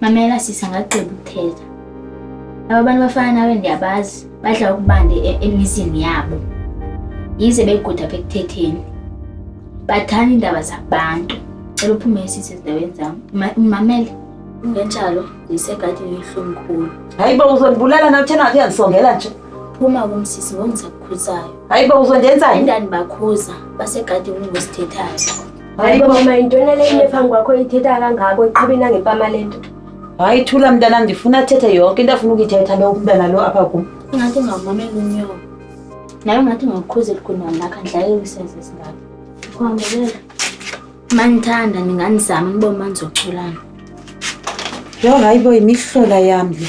Mamela sisa ngagqiba ukuthetha. Aba bantu bafana nawe ndiyabazi badla ukubande e-, emizini yabo. Yize beguda apha ekuthetheni. Bathanda iindaba zabantu. Cela uphume sisi ezindaweni zam. Mamele ngenjalo ndisegadini yohlumkhulu. Hayi bo uzondibulala na uthena wakhe yandisongela nje. Phuma kum sisi ngoku ndisakukhulisayo. Hayi bo uzondenza. Endandibakhuza basegadini ngosithethayo. hayi bo mama yintoni le into phambi kwakho ithetha kangako iqhuba inangempama le nto hayi thula mntana ndifuna athethe yonke into afuna ukuyithetha lo umntana lo apha kum ingathi ngamamela unyoko naye ungathi ngakukhuzeli kunalakha ndlayewiseze zingaka kuhambelela manithanda ndinganizama nibo mandizoculana yho hayi bo yimihlola yam le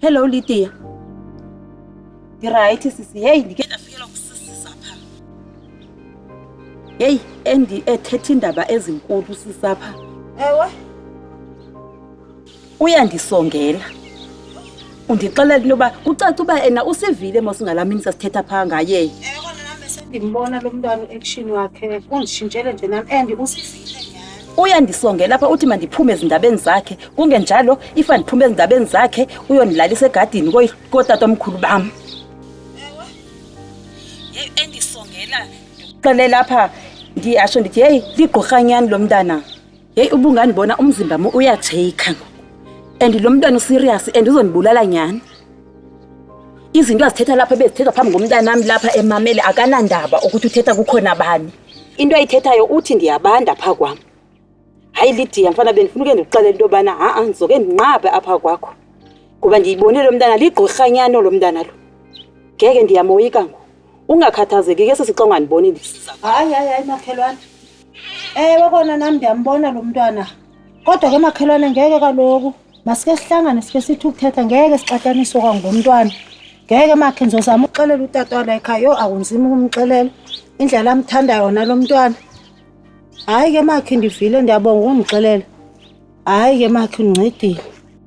Hello Lydia. Ndirayithi sisi, heyi ndike ndafikelwa kusususa pha. Heyi endi ethetha iindaba ezinkulu sisapha. Ewe. uyandisongela undixelela into yoba kucaca uba ena usivile mosingalaa mini sasithetha phaa ngaye ndimbona lo mntwana u-action wakhe unditshintshele nje nam and uyandisongela apha uthi mandiphume ezindabeni zakhe kungenjalo if andiphume ezindabeni zakhe uyondilalisa egadini kootata omkhulu bam endisongela ndikuxelela apha ndiyasho ndithi heyi ligqorhanyani lo mntana yeyi ubungandibona umzimba mo uyatsheyikha ngoku and lo mntwana userious and uzondibulala nyhani izinto azithetha lapha ebezithethwa phambi ngomntanam lapha emamele akanandaba ukuthi uthetha kukhona bani into ayithethayo uthi ndiyabanda phaa kwam hayi lidiya mfana bendifuna uke ndikuxele into yobana ha-a ndizoke ndinqabe apha kwakho ngoba ndiyibone lo mntana ligqorhanyano lo mntana lo ngeke ndiyamoyika ngoku ungakhathazeki ke sesixongandiboni ndisiza hayi hayi hayi makhelwane Ewe kona nam ndiyambona lo mntwana. Kodwa ke makhelwane ngeke kaloku. Masike sihlangane sike sithi ukuthetha ngeke sixataniswe kwangomntwana. Ngeke makhe ndizozama ukuxelela utata wala ekhaya. Yho akunzima ukumxelela. Indlela amthanda yona lo mntwana. Hayi ke makhe ndivile ndiyabonga ukundixelela. Hayi ke makhe undincedile.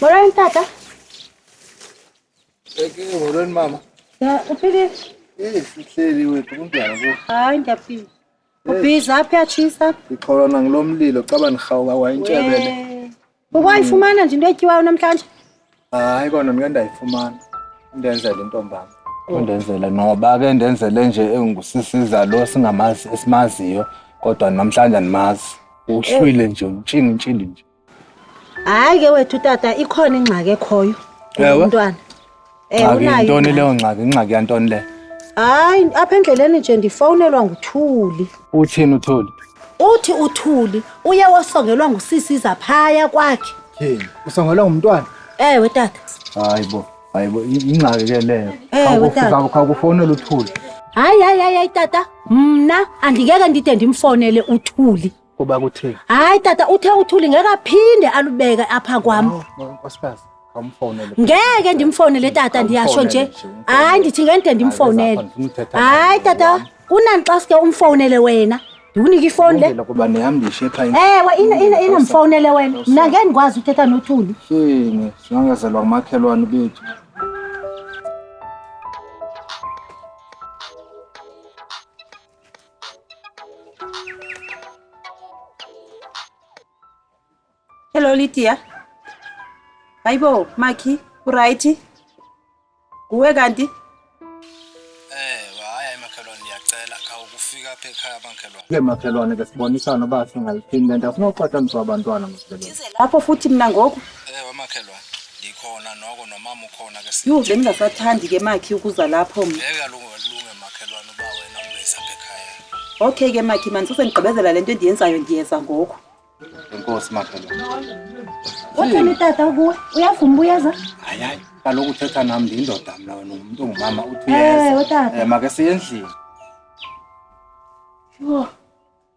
Moran tata. Peki moran mama. Ya uphile. Eh sihleli wethu kunjani bo? Hayi ngiyaphila. Ubhiza aphi yatshisa? Ikhona ngilomlilo caba nihawuka wayintshebele. Ukwayifumana nje into etyiwayo namhlanje? Hayi kona ngike ndayifumana. Ndenzela intombami. Undenzele noba ke ndenzele nje engusisiza lo singamazi esimaziyo kodwa namhlanje andimazi. Uhlwile nje utshinga intshindi nje. hayi ke wethu tata ikhona ingxaki ekhoyo Ewe. umntwana Eh, ngxaki unayo yintoni ingxaki. leyo ngxaki ingxaki yantoni le hayi apha endleleni nje ndifowunelwa nguthuli uthini uthuli uthi uthuli uye wasongelwa ngusisi izaphaya kwakhe Hey, usongelwa ngumntwana ewe tata hayi bo hayi bo i- ingxaki ke leyo Ewe, tata. Khawukufu- khawukufowunela uthuli hayi hayi hayi hayi tata mna andingeke ndide ndimfowunele uthuli Kuba kuthini? Hayi tata uthe uthuli ngeke aphinde alubeke apha kwam. No, no, nkosikazi, awumfowunele. Ngeke ndimfowunele tata ndiyasho nje. Awumfowunele nje, Hayi ndithi ngeke Hayi, ndimfowunele. Zakhona, ndifuna uthetha nawe, Hayi tata mama. kunani xa sike umfowunele wena. Ndikunike ifowuni le. Kulungile kuba nihambishe ekhaya. Ewe ina ina ina mfowunele wena. Mna ngeke ndikwazi uthetha nothuli. Shini, singangazelwa ngumakhelwane bethu. Hello Lydia. Hayibo Maki, uright? Kuwe kanti? Eh, hayi makhelwane ndiyacela khawukufika apha ekhaya makhelwane. Ke makhelwane ke sibonisana uba singaliphinda nto sinoxoxa mntu wabantwana makhelwane. Lapho futhi mna ngoku. Eh, wamakhelwane. Ndikhona noko nomama ukhona ke. Yho, bengingasathandi ke Maki ukuza lapho mna. Ngeke alunge Makhelwane uba wena ungeza apha ekhaya. Okay ke makhi mani sesendigqibezela le nto endiyenzayo ndiyeza ngoku. Enkosi makhelwane. Uthini utata ukuwe? Uyavuma uba uyeza? Hayi hayi kaloku uthetha nam ndiyindoda mna wena ungumntu ongumama uthi Eh, uyeza. utata. Eh, Make siye endlini. Yho.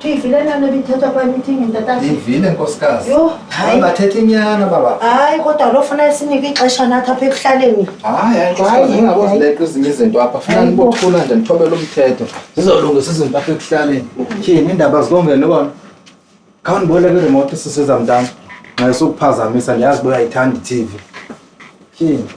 Ndiyivile laa nto ibithethwa kwa meeting ntatata. Ndiyivile nkosikazi. Yho, hayi. Hayi bathetha inyana baba. Hayi kodwa lo funa sinike ixesha nathi apha ekuhlaleni. Hayi hayi nkosikazi ningabozileqa ezinye izinto apha. Funa nibothula nje nithobele umthetho. Zizolungisa izinto apha ekuhlaleni. Tyhini iindaba zikongele bona. Khawundiboleke iremote sisiza mntana. Nxa esukuphazamisa ndiyazi uba uyayithanda i-TV. Tyhini.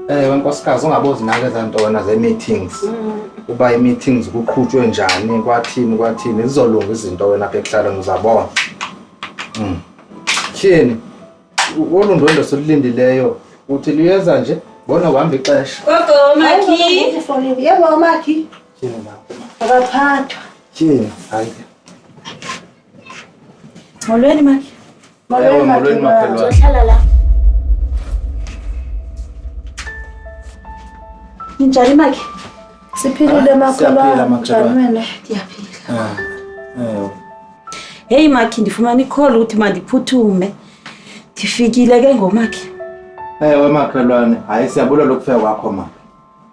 ewe nkosikazi ungabozinake ezaa ntona zee-meetings uba ii-meetings kuqhutywe njani kwathini kwathini zizolunga izinto wena apha ekuhlaleni uzabona Mm. tyhini olu ndwendwe silulindileyo uthi luyeza nje bona uhamba ixesha Gogo, Makhi. Yebo, Makhi. Akaphathwa. Tyhini. Hayi. Molweni makhe. Ewe, molweni, makhelwane. Uzohlala la. Ninjani makhe? Siphilile Ah, makhelwane. siyaphila, makhelwane. Njani wena? Ndiyaphila. Ewe. Heyi makhe ndifumana ikholo ukuthi mandiphuthume. Ndifikile ke ngomakhe. Ewe makhelwane, hayi siyabulela ukufika kwakho ma.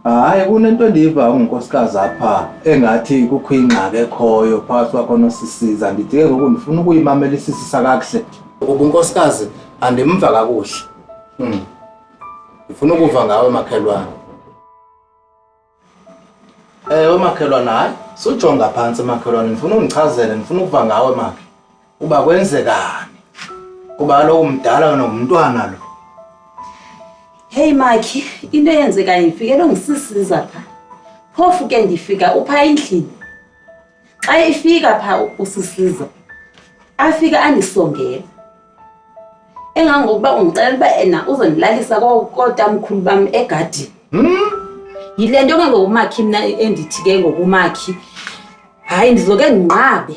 Hayi kunento endiyiva ungunkosikazi apha engathi kukho ingxaki ekhoyo phakathi kwakho nosisiza ndithi ke ngoku ndifuna ukuyimamela isisisa kakuhle kuba unkosikazi andimva kakuhle mm. ndifuna ukuva ngawe makhelwane ewe makhelwane hayi sujonga phantsi makhelwane ndifuna undichazele ndifuna ukuva ngawe makhe uba kwenzekani kuba kaloku mdala wena ngumntwana lo heyi makhi into eyenzekayo ndifikele ngisisiza pha phofu ke ndifika upha endlini xa ifika pha usisiza afike andisongela engangokuba undixelela uba ena uzondilalisa kotamkhulu bam egadini hmm? yile nto ke ngokumakhi mna endithi ke ngokumakhi hayi ndizoke ndinqabe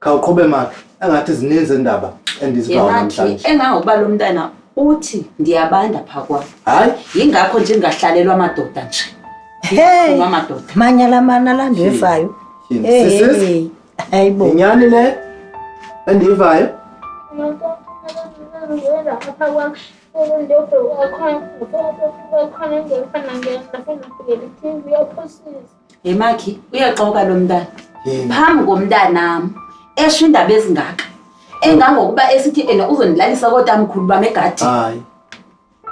khawuqhube makhe engathi zininzi indaba endizivayo yengathi namhlanje engangokuba lo mntana uthi ndiyabanda phaa kwam hayi yingakho nje ndingahlalelwa amadoda nje Hey, Ndifuna amadoda manyala mana la nto evayo. Tyhini. Hey, Sisis, hey, hayi bo. yinyani le endiyivayo Hey Makhi, uyaxoka lo mntana. Phambi komntanam esho indaba ezingaka. Engangokuba esithi ena uzondilalisa kodwa mkhulu bam egadi. Hayi.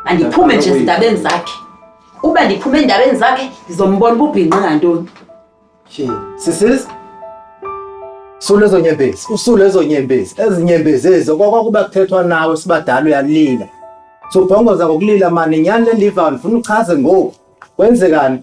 Andiphume nje ezindabeni zakhe. Uba ndiphume endabeni zakhe ndizombona ububhinqi ngantoni. She, sisis. Sule ezo nyembezi, usule ezo nyembezi, ezi nyembezi ezo kwakwakuba kuthethwa nawe sibadala uyalila. Sobhongoza ngokulila mani nyani le ndiva ndifuna uchaze ngoku. Kwenzekani?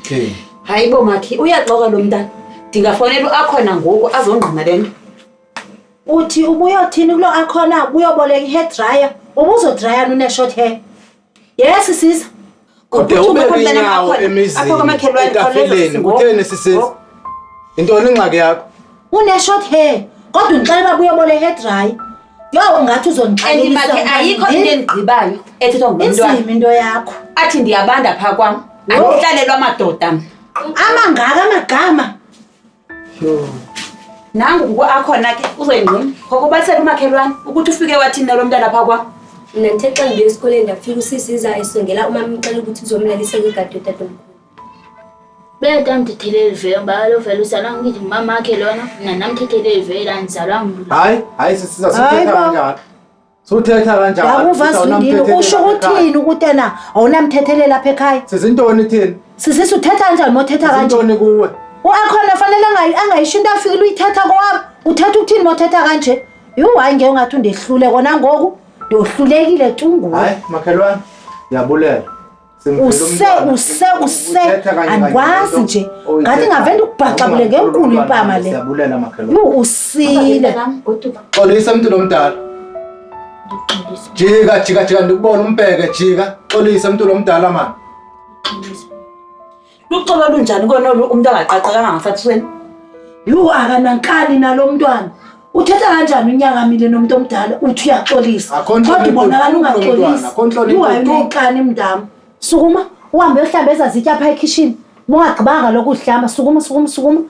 Okay. Hayi bo makhi uyaxoka lo mntana. Ndingafonela uAkhona ngoku azongqina le nto. Uthi ubuyothini kulo Akhona ubuyoboleka i-hair dryer ubuzodraya nune-short hair. Yes sisa. kodwa ube kwinyawo emizini etafileni kutheni sisisi oh. yintoni ingxaki yakho uneshort hair kodwa undixelela uba uyobole hair dry yho ungathi uzondixelelibakhe ayikho into endigqibayo ethethwa ngumntwana into yakho athi ndiyabanda phaa kwam andihlalelwa amadoda amangaka amagama Yho. Nangu kuko akhona ke uzoyingqina. Ngoko bathela umakhelwane ukuthi ufike wathini nalo mntana phaa kwam. Mna ndithe xa ndibuye esikoleni ndafika usisi iza esongela umama imxela ukuthi uzomlalisa kwigadi yotatomkhulu. Beta mthetheleli vele ngoba lo vele uzalwa ngithi ngumama wakhe lona mna namthetheleli vele andizalwa mntu. Hayi, hayi sisiza Hayi, sithetha baba. kanjalo. Suthetha kanjani? Yakuva Sisi, Zundile, awunamthethelela usho apha ekhaya. uthini ukuthi na awunamthethelela apha ekhaya? Sisi intoni thini? Sisisi uthetha kanjani uma uthetha Sisi kanje? intoni kuwe? U-akhona fanele angayi- angayisho into afikile uyithetha kowami. Uthetha ukuthini uma uthetha kanje? Yhu, hayi ngeke ungathi undehlule kona ngoku. Ndohlulekile tu nguwe. Hayi makhelwane, ndiyabulela. use use use andikwazi nje ngathi ngave ndikubhaxabule ngenkulu impama le yho usile xolisa mntu lomdala jika jika jika ndikubona umbheke jika xolisa mntu lomdala mani luxolo olunjani kona olu umntu angaqaqekanga ngasathisweni yhu akanankani nalo mntwana uthetha kanjani unyakamile nomntu omdala uthi uyaxolisa Akho ntlonipho kodwa ubonakala kulo mntwana, ungaxolisi akho ntlonipho uhayi tu. uneyixani mntam sukuma uhambe uyohlamba eza zitya phaa ekhishini bungagqibanga lokhu uzihlamba sukuma sukuma sukuma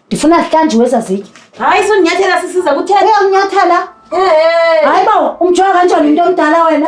ndifuna zihlanjiwe eza zitya hayi sonyathela sisiza kuthela uyamnyathela Ehe. hayi bawo umjonga kanjani umntu omdala wena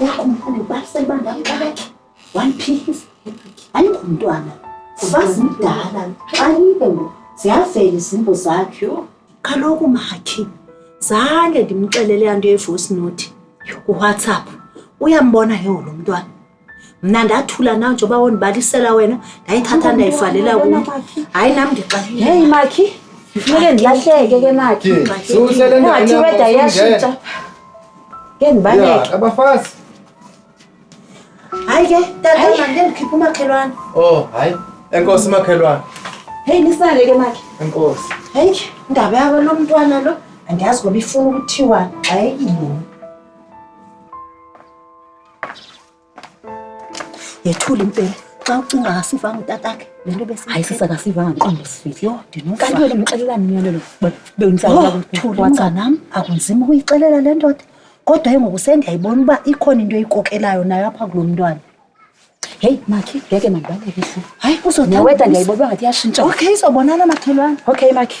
Uyakumfana basele bandamqabeka. One piece. Ayingumntwana. Ubazi mdala. Xa ibe ngoku ziyavela izimbo zakhe. Kaloku makhe zange ndimxelele anto yevoice note kuwhatsapp uyambona ke wona umntwana mna ndathula nawe njengoba wondibalisela wena ndayithatha ndayivalela kum hayi nam ndixa heyi makhi funeke ndilahleke ke makhi ngathi weda iyashintsha ke ndibaleke abafazi hayi ke tata mande ndikhipha umakhelwane o oh, hayi enkosi umakhelwane heyi nisale ke makhi enkosi heyi indaba yabo lo mntwana lo andiyazi ngoba ifuna ukuthiwa xa eyini yethula impela xa ucinga akasivanga utatakhe le nto bese hayi sisa akasivanga ntombi sifihli yho ndinokanti wena umxelela miyalelo bewuntsawacanam oh, akunzima ukuyixelela le ndoda kodwa ke ngoku sendiyayibona uba ikhona into eyikokelayo nayo apha kulo mntwana heyi makhi ngeke mandibaleke hlo hayi uzoneweda ndiyayibona uba ngathi iyatshintsha okay izobonana makhelwana okay makhi